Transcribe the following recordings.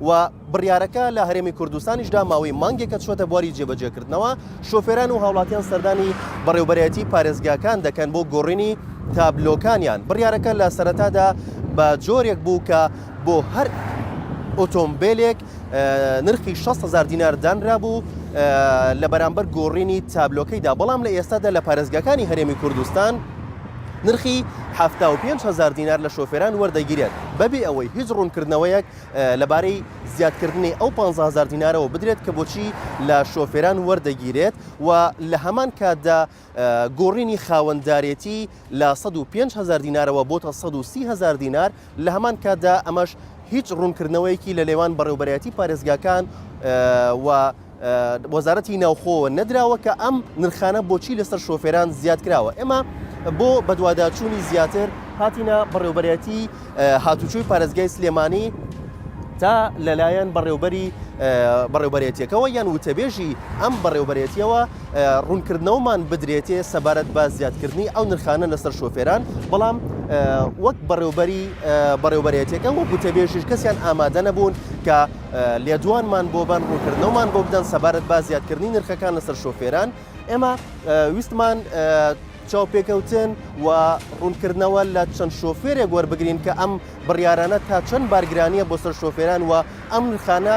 و بڕیارەکە لە هەرێمی کوردستانیشدا ماوەی مانگێکە چووەتە بواری جێبەجێکردنەوە، شۆفێران و هاوڵاتیان سەردانی بەڕێوەبەرایەتی پارێزگاکان دەکەن بۆ گۆڕینی تابلۆکانیان، بڕیارەکە لە سەرەتادا بە جۆرێک بوو کە بۆ هەر ئۆتۆمبێلێک نرخی شەست هەزار دینار دانرابوو لە بەرامبەر گۆڕینی تابلۆکەیدا، بەڵام لە ئێستادا لە پارێزگاکانی هەرێمی کوردستان نرخی حەفتا و پێنج هەزار دینار لە شۆفێران وەردەگیرێت بەبێ ئەوەی هیچ ڕوونکردنەوەیەک لەبارەی زیادکردنی ئەو پانزە هەزار دینارەوە بدرێت کە بۆچی لە شۆفێران وەردەگیرێت و لە هەمان کاتدا گۆڕینی خاوەندارێتی لە 105 هەزار دینارەوە بۆ تا 130 هەزار دینار لە هەمان کاتدا ئەمەش هیچ ڕوونکردنەوەیەکی لە لێوان بەڕێوبەرایەتی پارێزگاکان و وەزارەتی ناوخۆوە نەدراوە کە ئەم نرخانە بۆچی لەسەر شۆفێران زیاد کراوە ئێمە بۆ بەدواداچوونی زیاتر هاتینە بەڕێوبەرەتی هاتوچوی پارێزگای سلێمانی تا لەلایەن بەڕێوبەری بەڕێوبەرێتیەکەەوە یان وتەبێژی ئەم بەڕێوبەرێتیەوە ڕوونکردنەوەمان بدرێتێ سەبارەت بە زیادکردنی ئەو نرخانە لەسەر شۆفێران بەڵام وەک بەڕێوبەری بەڕێوبەرێتیەکە وەک وتەبێژیش کەسیان ئامادە نەبوون کە لێدوانمان بۆ بەن ڕوونکردنەوەمان بۆ بدەن سەبارەت با زیادکردنی نرخەکان لەسەر شۆفێران ئێمە ویستمان چاوپێکەوتن و ڕوونکردنەوە لە چەند شۆفێرێک وەربگرین کە ئەم بڕیارانە تا چەند بارگرانیە بۆ سەر شۆفێران و ئەم نرخانە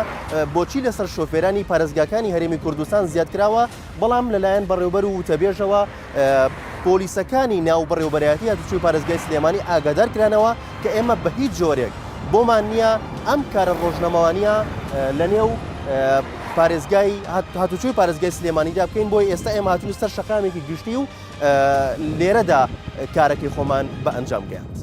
بۆچی لەسەر شۆفێرانی پارێزگاکانی هەرێمی کوردستان زیادکراوە بەڵام لەلایەن بەڕێوبەر و وتەبێژەوە پۆلیسەکانی ناو بەڕێوبەرایەتی هاتوچوی پارێزگای سلێمانی ئاگادار کرانەوە کە ئێمە بە هیچ جۆرێک بۆمان نییە ئەم کارە ڕۆژنەمەوانە لە نێو پارێزگای هاتوچوی پارێزگای سلێمانیدا بکەین بۆی ئێستا ئێمە هاتون سەر شەقامێکی گشتی و لێرەدا کارەکەی خۆمان بە ئەنجام گەیاند.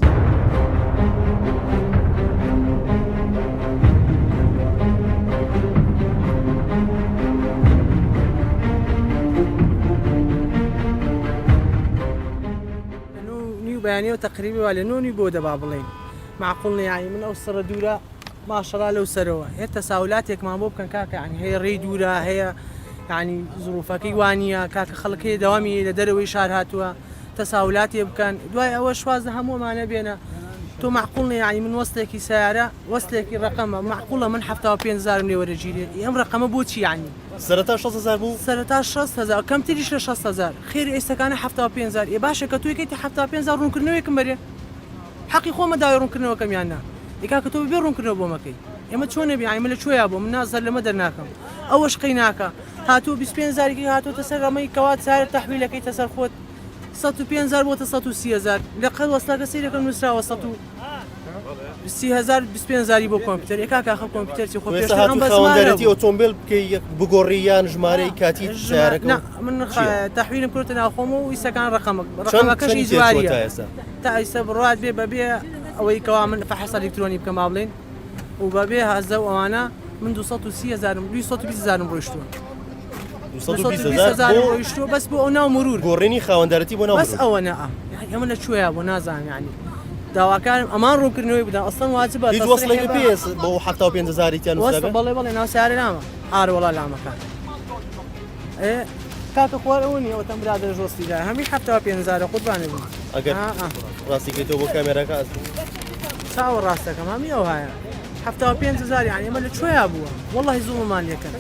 بەیانیەوە تەقریبی وا لە نۆ نوی بۆ دە با بڵێین معقول نیە یانی من ئەو سڕە دوورە ماشەڵا لەو سەرەوە هێ تەساولاتێکمان بۆ بکەن کاکە یعنی هەیە ڕێی دوورە هەیە یعنی زروفەکەی وانە کاکە خەڵک هەیە داوامی لە دەرەوەی شار هاتووە تەساولاتێ بکەن دوای ئەوە شواز لە هەموومانە بێنە تۆ معقول نیە یعنی من وەستێکی سیارە وەستێکی ڕقەمە معقولە من هەفتا و پێنج هزارم لێ وەرەگیرێ ئەم ڕقەمە بۆچی یعنی سەرەتا شەست هەزار بوو سەرەتا شەست هەزار کەمتریش لە شەست هەزار خێری ئێستەکانە هەفتا و پێنج هزار ئێ باشە کە تۆی کەیتە هەفتا و پێنج هزار ڕوونکردنەوەیەکم بەرێ حەقی خۆمە داوای ڕوونکردنەوەکەم یان نا ئەی کاکە تۆ بەبێ ڕوونکردنەوە بۆ مەکەی ئێمە چۆن نەبی ئایمە لە کوێیا بۆ من نازەر لەمە دەرناکەم ئەوەش قەی ناکە هاتوو 25 زارێکی هاتوۆتە سەر ئەمەی کەوات سارە تەحویلەکەیتە سەر خۆت 105 زار بۆتە 130هزار لە قەر وەستاکە سیرەکەم نووسراوە 100هزار 25 زاری بۆ کۆمپیوتەر ێکا کاخە کۆمپیوتەرسی خۆ بەسەوەندەتی ئۆتۆمبیل بکەی بگۆڕی یان ژمارەی کاتی ژارەکە من تەحویلم کردە ناوخۆم و ئیسەکان ڕقەمەکەشی جواری تا ئیستا بڕوات بێ بەبێ ئەوەی کەوا من فەحس ئەلیکترۆنی بکەم با بڵێین و بەبێ هەزە و ئەوانە من 230 هزارم 220 هزارم ڕۆیشتووە 220 هزار ڕۆیشتووە بەس بۆ ئەو ناو مرور گۆڕینی خاوەندارەتی بۆ ناو بەس ئەوە نە ئەمە لە کوێە بۆ نازانم ینی داواکارم ئەمان ڕوونکردنەوەی بدەن ئەسڵەن واجب بە وەسڵی پێس بۆ 5 هزاریان بەڵێ بەڵێ ناوسیارە نامە ئارەوەڵا لامەکان کاکە خوار ئەوە نیە ئەوتەم برادە ژۆستی دا هەمی حەفتا پێ هزارە قوربانە بوو ئەگەر ڕاستی کەیتەوە بۆ کامێراکە ئەس چاوە ڕاستەکەم هەمی ئەو هاە حەفتا پێ هزار یان ئێمە لە کوێیا بووە وەڵی زوڵمان یەکەن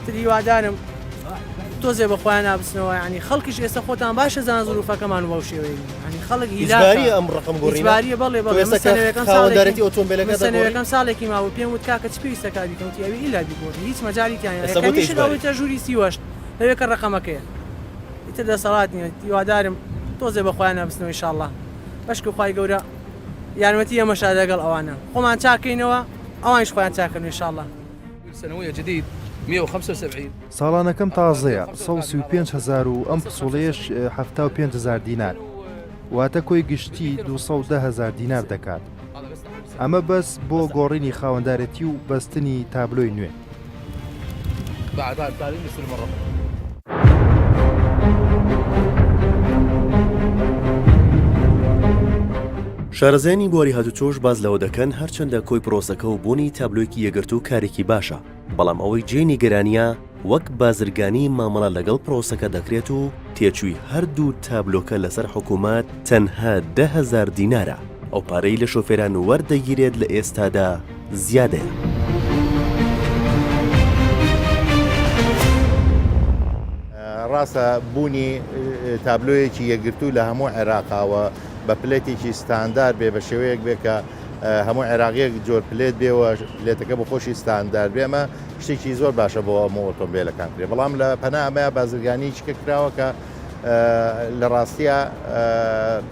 تریوادارم تۆزێ بەخۆیان نابسنەوە ینی خەڵکیش ئێستا خۆتان باشە زان زروفەکەمان وەو شێوەیە ئیجبارییە ئەم ڕەقەمگۆڕینە؟ ئیجبارییە بەڵێ بەڵێ من سەنەوێکەم ساڵێکی خاوەندارێتی ئۆتۆمبێلەکە دەگۆڕی؟ من سەنەوێکەم ساڵێکی ماوە پێم وت کاکە چ پێویستە کار بیکەم وتی ئەوی ئیلا بیگۆڕی هیچ مەجالی تیا نییە کەمیشن ئەڵێتە ژووری سی و هەشت ئەوێ کە ڕەقەمەکەیە ئیتر دەسەڵات نییە هیوادارم تۆزێ بە خۆیان نابستنەوە ان شاءاللە بەشکو خوای گەورە یارمەتی ئێمەشا لەگەڵ ئەوانە خۆمان چاک کەینەوە ئەوانیش خۆیان چاک کەن ان شاءاللە. ساڵانەکەم تازەیە سەد و سی و پێنج هەزار و ئەم پسوڵەیەش حەفتا و پێنج هەزار دینار واتە کۆی گشتی دوو سەد و دە هەزار دینار دەکات ئەمە بەس بۆ گۆڕینی خاوەندارێتی و بەستنی تابلۆی نوێ. شارەزایانی بواری هاتوچۆش باس لەوە دەکەن هەرچەندە کۆی پرۆسەکە و بوونی تابلۆیەکی یەکگرتوو کارێکی باشە، بەڵام ئەوەی جێی نیگەرانییە وەک بازرگانی مامەڵە لەگەڵ پرۆسەکە دەکرێت و تێچووی هەردوو تابلۆکە لەسەر حکومەت تەنها دە هەزار دینارە، ئەو پارەی لە شۆفێران وەردەگیرێت لە ئێستادا، زیادەیە. ڕاستە بوونی تابلۆیەکی یەکگرتوو لە هەموو عێراقا و بە پلێتێکی ستاندار بێ بە شێوەیەک بێ کە هەموو عێراقیەک جۆر پلێت بێەوە پلێتەکە بە خۆشی ستاندار بێمە شتێکی زۆر باشە بۆ هەموو ئۆتۆمبیلەکان کرێ بەڵام لە پەنامەیە بازرگانی چکە کراوە کە لە ڕاستە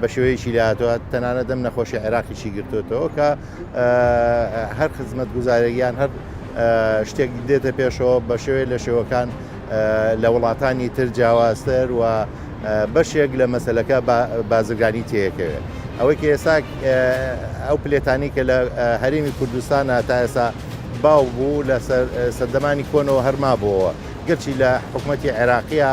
بە شێوەیەکی لاتوە تەنانەت ئەم نەخۆشی عێراقیی گرتوێتەوە کە هەر خزمەت گوزارێکیان هەر شتێک دێتە پێشەوە بە شێوەیە لە شێوەکان لە وڵاتانی تر جیاوازتر و بەشێک لە مەسلەکە بازرگانی تێکەوێت ئەوەی کە ئێستا ئەو پلێتانی کە لە هەرێمی کوردستانە تا ئێسا باو بوو لە سەردەمانی کۆنەوە هەرما بووەوە گەرچی لە حکوومەتتی عێراقیە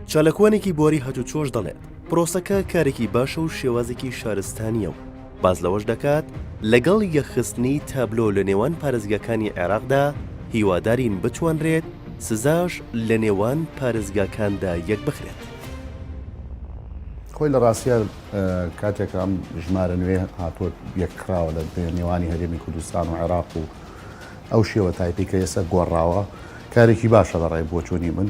چالاکوانێکی بواری هاتووچۆش دەڵێت، پرۆسەکە کارێکی باشە و شێوازێکی شارستانییە و باس لەوەش دەکات، لەگەڵ یەکخستنی تابلۆ لە نێوان پارێزگاکانی عێراقدا هیوادارین بتوانرێت سزاش لە نێوان پارێزگاکاندا یەکبخرێت. خۆی لە ڕاستییە کاتێک ئەم ژمارە نوێیە هاتووە یەکخراوە لە نێوانی هەرێمی کوردستان و عێراق و ئەو شێوە تایپەی کە ئێستا گۆڕاوە کارێکی باشە بە ڕای بۆچوونی من.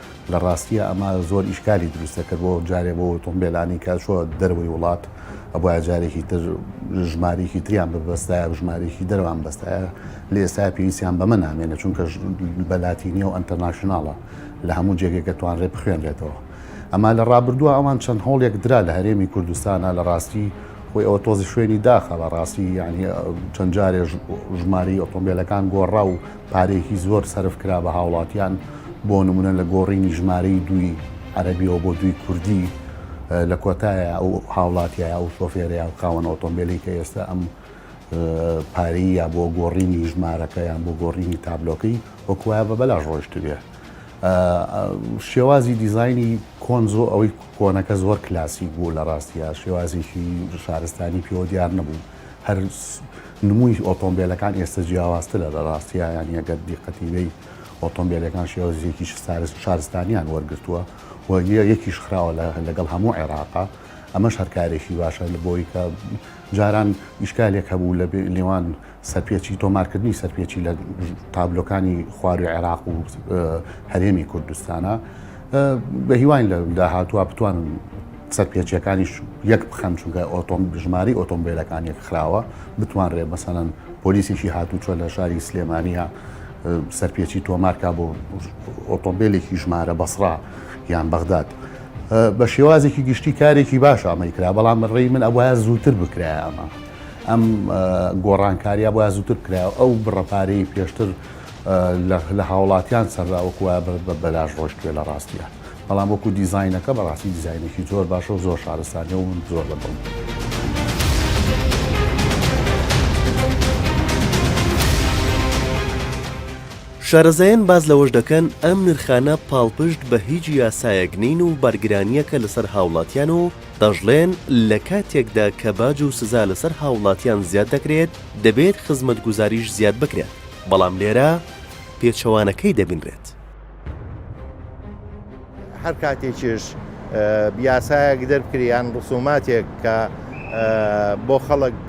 لە ڕاستیە ئەمە زۆر ئیشکالی دروست دەکرد بۆ جارێ بۆ ئۆتۆمبیلانی کە چۆ دەرەوەی وڵات ئەبواە جارێکی تر ژمارێکی تریان ببەستایە ژمارێکی دەروان بەستایە لە ئێستا پێویستیان بەمە نامێنە چونکە بەلاتینی و ئەتەناشنناڵە لە هەموو جێگەکە توانرێ بخوێنرێتەوە ئەما لە ڕابردووە ئەوان چەند هەوڵێک درا لە هەرێمی کوردستانە لە ڕاستی خۆی ئەوە تۆزی شوێنی داخە بە ڕاستی یعنی چەند جارێ ژماری ئۆتۆمبیلەکان گۆڕا و پارەیەکی زۆر سەرف کرا بە هاوڵاتیان بۆ نمونە لە گۆڕینی ژمارەی دووی عەرەبیەوە بۆ دووی کوردی لە کۆتایە ئەو هاوڵاتیە ئەو شۆفێرەیە و خاوەن ئۆتۆمبیلی کە ئێستا ئەم پارەی یا بۆ گۆڕینی ژمارەکە یان بۆ گۆڕینی تابلۆکەی وەکوایە بە بەلاش ڕۆشت بێ شێوازی دیزایانی کۆنزۆ ئەوەی کۆنەکە زۆر کلاسی بوو لە ڕاستیە شێوازێکی شارستانی پیۆ دیار نەبوو هەر نمووی ئۆتۆمبیلەکان ئێستا جیاوازترە لە ڕاستیە یانی ئەگەر دیقەتیبی ئۆتۆمبیلەکان شێوەزیەکی سارس شارستانیان وەرگتووە و یەکیش خراوە لەگەڵ هەموو عێراقا ئەمەش هەرکارێکی باشە لە بۆی کە جاران ئیشکالێک هەبوو لە نێوان سەرپێچی تۆمارکردنی سەرپێچی لە تابلۆکانی خواروی عێراق و هەرێمی کوردستانە بە هیواین لە داهاتوە بتوانن سەرپێچیەکانیش یەک بخەن چونکە ئۆتۆم ژماری ئۆتۆمبیلەکان یەک خراوە بتوانرێ مەسەەن پۆلیسێکی هاتوچۆ لە شاری سلێمانە سەرپێچی تۆمارکە بۆ ئۆتۆمبیلێکی ژمارە بەسرا یان بەغداد. بە شێوازێکی گشتی کارێکی باش ئەمەی کرا بەڵام ڕێی من ئەوە زووتر بکرای ئەمە ئەم گۆڕانکاریە بۆ زووتر کرا ئەو بڕەپارەی پێشتر لە هاوڵاتیان سەرراوەکوە بەلاش ڕۆشتێ لە ڕاستیان. بەڵام وەکو دیزاینەکە بەڕاستی دیزاینێکی زۆر باشە و زۆر شارستانیە و من زۆر بە دڵم. شارەزایان باس لەوەش دەکەن، ئەم نرخانە پاڵپشت بە هیچ یاسایەک نین و بەرگرانییەکە لەسەر هاوڵاتیان و دەشڵێن، لە کاتێکدا کە باج و سزا لەسەر هاوڵاتیان زیاد دەکرێت، دەبێت خزمەتگوزاریش زیاد بکرێت، بەڵام لێرە پێچەوانەکەی دەبینرێت. هەر کاتێکیش یاسایەک دەرکری یان ڕسوماتێک کە بۆ خەڵک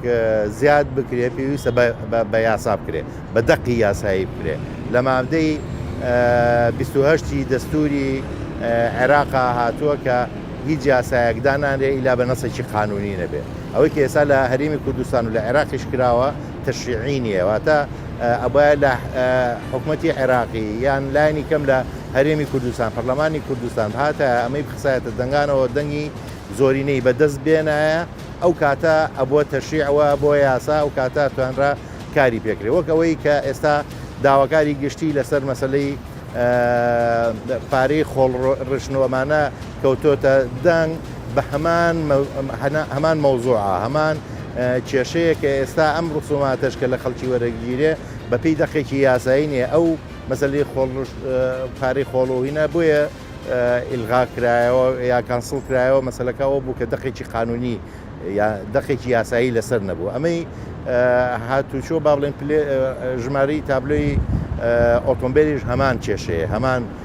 زیاد بکرێت پێویستە بە یاسا بکرێت بە دەقی یاسایی بکرێت لە مادەی 28 دەستوری عێراقا هاتووە کە هیچ یاسایەکدانانرێ ئیلا بە نەسێکی قانونی نەبێت ئەوەی کە ئێستا لە هەرێمی کوردستان و لە عێراقیش کراوە تەشیعی نییە واتە ئەبایە لە حکومەتی عێراقی یان لایانی کەم لە هەرێمی کوردستان پەرلەمانی کوردستان بهاتە ئەمەی بخسایەتە دەنگانەوە دەنگی زۆرینەی بەدەست بێنایە ئەو کاتە ئەبووە تەشیعەوە بۆ یاسا ئەو کاتە توانرا کاری پێکرێ وەک ئەوەی کە ئێستا داواکاری گشتی لەسەر مەسلەی پارەی خۆڵ ڕشنەوەمانە کەوتۆتە دەنگ بە هەمان هەمان مەوزوعە هەمان کێشەیە کە ئێستا ئەم ڕسوماتەش کە لە خەڵکی وەرەگیرێ بەپی دەقێکی یاسایی نیە ئەو مەسلی خۆڵ پارەی خۆڵۆهینە بۆیە ئیلغا کرایەوە یا کانسڵ کرایەوە مەسلەکە ئەو بوو کە دەقێکی قانونی یا دەقێکی یاسایی لەسەر نەبوو ئەمەی هاتوچۆ با بڵێن ژماری تابلۆی ئۆتۆمبیلیش هەمان کێشەیە هەمان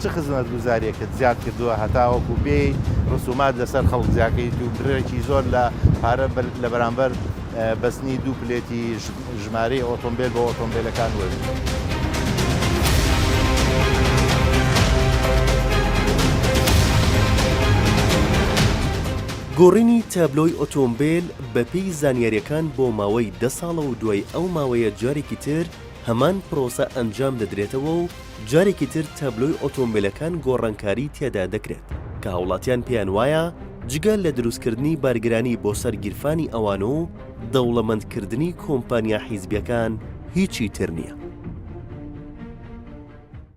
چ خزمەتگوزاریەکت زیاد کردووە هەتاوەکو بێیت رسومات لەسەر خەڵک زیاکەیت و بڕێکی زۆر لە پارە لە بەرامبەر بەستنی دوو پلێتی ژمارەی ئۆتۆمبێل بۆ ئۆتۆمبێلەکان وەرگریت؟ گۆڕینی تابلۆی ئۆتۆمبێل بەپێی زانیاریەکان بۆ ماوەی دە ساڵە و دوای ئەو ماوەیە جارێکی تر، هەمان پرۆسە ئەنجام دەدرێتەوە و جارێکی تر تابلۆی ئۆتۆمبێلەکان گۆڕانکاری تێدا دەکرێت کە هاوڵاتیان پێیان وایە جگە لە دروستکردنی بارگرانی بۆ سەر گیرفانی ئەوان و دەوڵەمەندکردنی کۆمپانیا حیزبیەکان هیچی تر نییە.